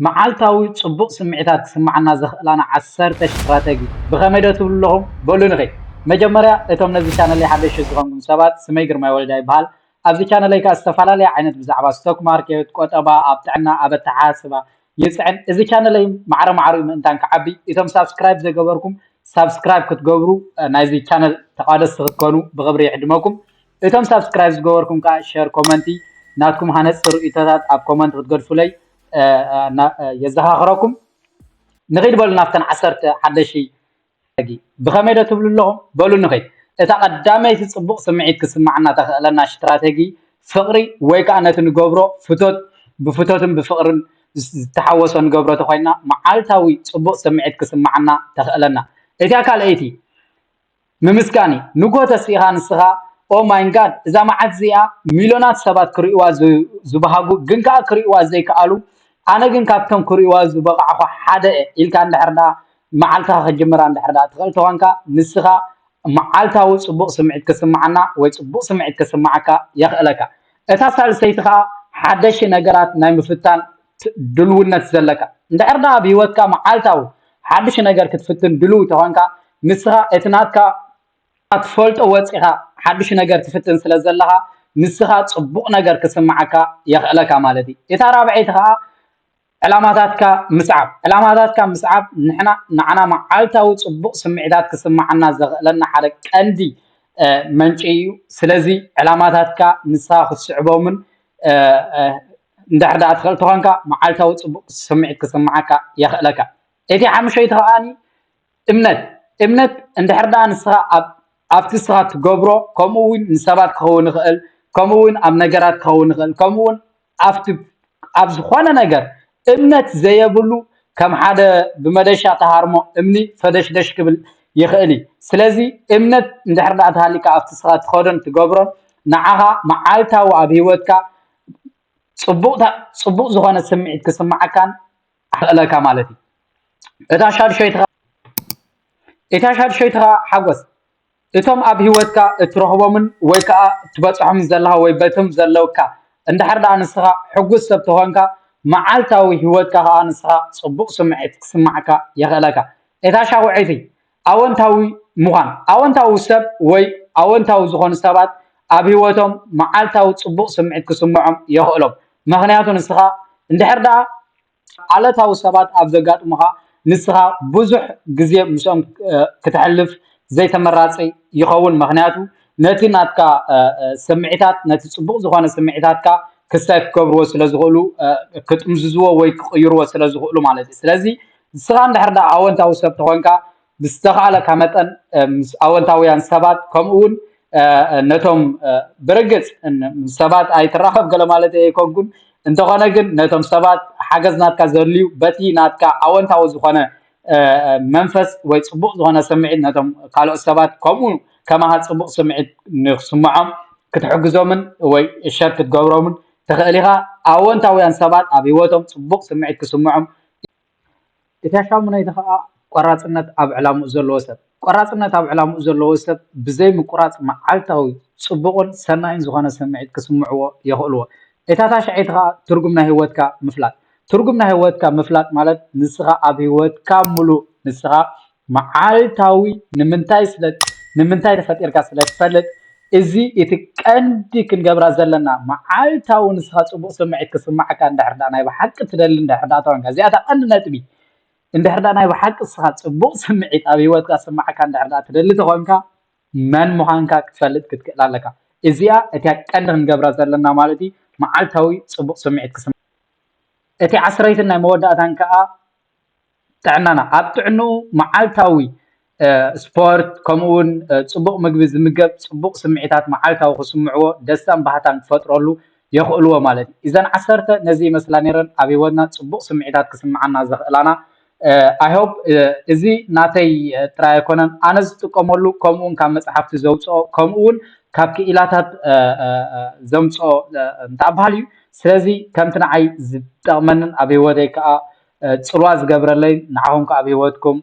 መዓልታዊ ጽቡቕ ስምዒታት ክስምዓና ዘኽእላና ዓሰርተ ስትራተጂ ብኸመይ ዶ ትብሉ ኣለኹም? በሉ ንኺ መጀመርያ እቶም ነዚ ቻነለይ ሓደሽቲ ዝኾንኩም ሰባት ስመይ ግርማይ ወልዳ ይበሃል። ኣብዚ ቻነለይ ከኣ ዝተፈላለየ ዓይነት ብዛዕባ ስቶክ ማርኬት፣ ቆጠባ፣ ኣብ ጥዕና፣ ኣብ ኣተሓሳስባ ይጽዕን። እዚ ቻነለይ ማዕረ ማዕሪኡ ምእንታን ክዓቢ እቶም ሳብስክራይብ ዘይገበርኩም ሳብስክራይብ ክትገብሩ ናይዚ ቻነል ተቛደስቲ ክትኮኑ ብኽብሪ ይዕድመኩም። እቶም ሳብስክራይብ ዝገበርኩም ከኣ ሸር ኮመንቲ ናትኩም ሃነጽቲ ርእይቶታት ኣብ ኮመንት ክትገድፉለይ የዘኻኽረኩም። ንኺድ በሉ ናብተን ዓሰርተ ሓደሽቲ ሕጊ ብኸመይ ዶ ትብሉ ኣለኹም በሉ ንኺድ እታ ቀዳመይቲ ጽቡቕ ስምዒት ክስማዓና ተኽእለና ሽትራተጊ ፍቕሪ ወይ ከኣ ነቲ ንገብሮ ፍቶት ብፍቶትን ብፍቕርን ዝተሓወሶ ንገብሮ ተኾይና መዓልታዊ ጽቡቕ ስምዒት ክስማዓና ተኽእለና እቲያ ካልኣይቲ ምምስጋን እዩ ንግሆ ተስኢኻ ንስኻ ኦ ማይ ጋድ እዛ መዓልቲ እዚኣ ሚሎናት ሰባት ክርእይዋ ዝብሃጉ ግን ከኣ ክርእይዋ ዘይከኣሉ ኣነ ግን ካብቶም ክርእይዋ ዝበቕዕኹ ሓደ ኢልካ እንድሕር ደኣ መዓልትኻ ክትጅምራ እንድሕር ደኣ ትኽእል ተኾንካ ንስኻ መዓልታዊ ጽቡቕ ስምዒት ክስምዓና ወይ ጽቡቕ ስምዒት ክስምዓካ የኽእለካ እታ ሳልሰይቲ ከኣ ሓደሽቲ ነገራት ናይ ምፍታን ድልውነት ዘለካ። እንድሕር ደኣ ኣብ ህይወትካ መዓልታዊ ሓድሽ ነገር ክትፍትን ድሉው ተኾንካ፣ ንስኻ እቲ ናትካ ኣትፈልጦ ወጺኻ ሓድሽ ነገር ትፍትን ስለ ዘለኻ ንስኻ ጽቡቕ ነገር ክስምዓካ የኽእለካ ማለት እዩ። እታ ራብዐይቲ ከኣ ዕላማታትካ ምስዓብ። ዕላማታትካ ምስዓብ ንሕና ንዓና መዓልታዊ ጽቡቕ ስምዒታት ክስምዓና ዘኽእለና ሓደ ቀንዲ መንጪ እዩ። ስለዚ ዕላማታትካ ንስኻ ክትስዕቦምን እንድሕር ደኣ ትኽእል ተኾንካ መዓልታዊ ጽቡቕ ስምዒት ክስምዓካ የኽእለካ። እቲ ሓሙሸይቲ ከኣ እምነት እምነት እንድሕር ደኣ ንስኻ ኣብ ኣብቲ ንስኻ ትገብሮ ከምኡ እውን ንሰባት ክኸውን ይኽእል ከምኡ እውን ኣብ ነገራት ክኸውን ይኽእል ከምኡ እውን ኣብቲ ኣብ ዝኾነ ነገር እምነት ዘየብሉ ከም ሓደ ብመደሻ ተሃርሞ እምኒ ፈደሽደሽ ክብል ይኽእል እዩ ስለዚ እምነት እንድሕር ደኣ ተሃሊካ ኣብቲ ንስኻ ትኸዶን ትገብሮን ንዓኻ መዓልታዊ ኣብ ሂወትካ ጽቡቕታ ጽቡቕ ዝኾነ ስምዒት ክስምዓካን ኣኽእለካ ማለት እዩ እታ ሻድሸይትኻ እታ ሻድሸይትኻ ሓጎስ እቶም ኣብ ህይወትካ እትረኽቦምን ወይ ከዓ እትበፅሖምን ዘለኻ ወይ በቶም ዘለውካ እንድሕር ደኣ ንስኻ ሕጉስ ሰብ ተኾንካ መዓልታዊ ህይወትካ ከዓ ንስኻ ፅቡቕ ስምዒት ክስማዕካ የኽእለካ እታ ሻውዐይቲ ኣወንታዊ ምዃን ኣወንታዊ ሰብ ወይ ኣወንታዊ ዝኾኑ ሰባት ኣብ ህይወቶም መዓልታዊ ፅቡቕ ስምዒት ክስምዖም የኽእሎም ምኽንያቱ ንስኻ እንድሕር ደኣ ዓለታዊ ሰባት ኣብ ዘጋጥሙኻ ንስኻ ብዙሕ ግዜ ምስኦም ክትሕልፍ ዘይተመራፂ ይኸውን ምኽንያቱ ነቲ ናትካ ስምዒታት ነቲ ፅቡቕ ዝኾነ ስምዒታትካ ክሳይ ክገብርዎ ስለ ዝኽእሉ ክጥምዝዝዎ ወይ ክቕይርዎ ስለ ዝኽእሉ ማለት እዩ ስለዚ ንስኻ እንድሕር ደኣ ኣወንታዊ ሰብ ተኾንካ ብዝተኻእለካ መጠን ምስ ኣወንታውያን ሰባት ከምኡ እውን ነቶም ብርግጽ ሰባት ኣይትራኸብ ገለ ማለት ኣይኮንኩን እንተኾነ ግን ነቶም ሰባት ሓገዝ ናትካ ዘድልዩ በቲ ናትካ ኣወንታዊ ዝኾነ መንፈስ ወይ ጽቡቕ ዝኾነ ስምዒት ነቶም ካልኦት ሰባት ከምኡ ከማኻ ጽቡቕ ስምዒት ንክስምዖም ክትሕግዞምን ወይ ሸር ክትገብሮምን ትኽእል ኢኻ ኣወንታውያን ሰባት ኣብ ህይወቶም ጽቡቕ ስምዒት ክስምዖም እቲ ሻሙነይቲ ከኣ ቆራጽነት ኣብ ዕላሙኡ ዘለዎ ሰብ ቆራጽነት ኣብ ዕላሙኡ ዘለዎ ሰብ ብዘይ ምቁራጽ መዓልታዊ ጽቡቅን ሰናይን ዝኮነ ስምዒት ክስምዕዎ የክእልዎ እታ ታሽዐይቲ ከኣ ትርጉም ናይ ሂወትካ ምፍላጥ ትርጉም ናይ ሂወትካ ምፍላጥ ማለት ንስካ ኣብ ሂወትካ ሙሉእ ንስካ መዓልታዊ ንምንታይ ስለ ንምንታይ ተፈጢርካ ስለ ትፈልጥ እዚ እቲ ቀንዲ ክንገብራ ዘለና መዓልታዊ ንስኻ ጽቡቕ ስምዒት ክስማዓካ እንድሕር ደኣ ናይ ብሓቂ ትደሊ እንድሕር ደኣ ተኮንካ እዚኣ እታ ቀንዲ ነጥቢ እንድሕር ደኣ ናይ ብሓቂ ንስኻ ጽቡቕ ስምዒት ኣብ ሂወትካ ክስማዓካ እንድሕር ደኣ ትደሊ ተኮንካ መን ምዃንካ ክትፈልጥ ክትክእል ኣለካ እዚኣ እቲያ ቀንዲ ክንገብራ ዘለና ማለት እዩ መዓልታዊ ጽቡቕ ስምዒት ክስማዓካ እቲ ዓስረይትን ናይ መወዳእታን ከኣ ጥዕናና ኣብ ጥዕንኡ መዓልታዊ ስፖርት ከምኡ እውን ፅቡቕ ምግቢ ዝምገብ ፅቡቕ ስምዒታት መዓልታዊ ክስምዕዎ ደስታን ባህታን ክፈጥረሉ የኽእልዎ ማለት እዩ እዘን ዓሰርተ ነዚ ይመስላ ነይረን ኣብ ሂወትና ፅቡቕ ስምዒታት ክስምዓና ዘኽእላና ኣይሆብ እዚ ናተይ ጥራይ ኣይኮነን ኣነ ዝጥቀመሉ ከምኡ እውን ካብ መፅሓፍቲ ዘውፅኦ ከምኡ እውን ካብ ክኢላታት ዘምፅኦ እንታይ በሃል እዩ ስለዚ ከምቲ ንዓይ ዝጠቕመንን ኣብ ሂወተይ ከዓ ጽልዋ ዝገብረለይ ንዓኹም ከዓ ኣብ ሂወትኩም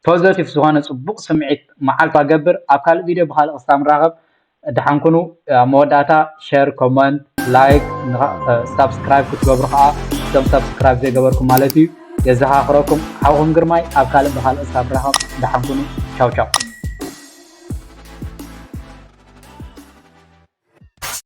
ፖዘቲቭ ዝኾነ ጽቡቕ ስምዒት መዓልቱ ኣገብር ኣብ ካልእ ቪድዮ ብካልእ ክስታ ንራኸብ ደሓን ኩኑ ኣብ መወዳእታ ሸር ኮመንት ላይክ ሳብስክራይብ ክትገብሩ ከዓ እቶም ሳብስክራይብ ዘይገበርኩም ማለት እዩ የዘኻኽረኩም ሓውኹም ግርማይ ኣብ ካልእ ብካልእ ክስታ ንራኸብ ደሓን ኩኑ ቻው ቻው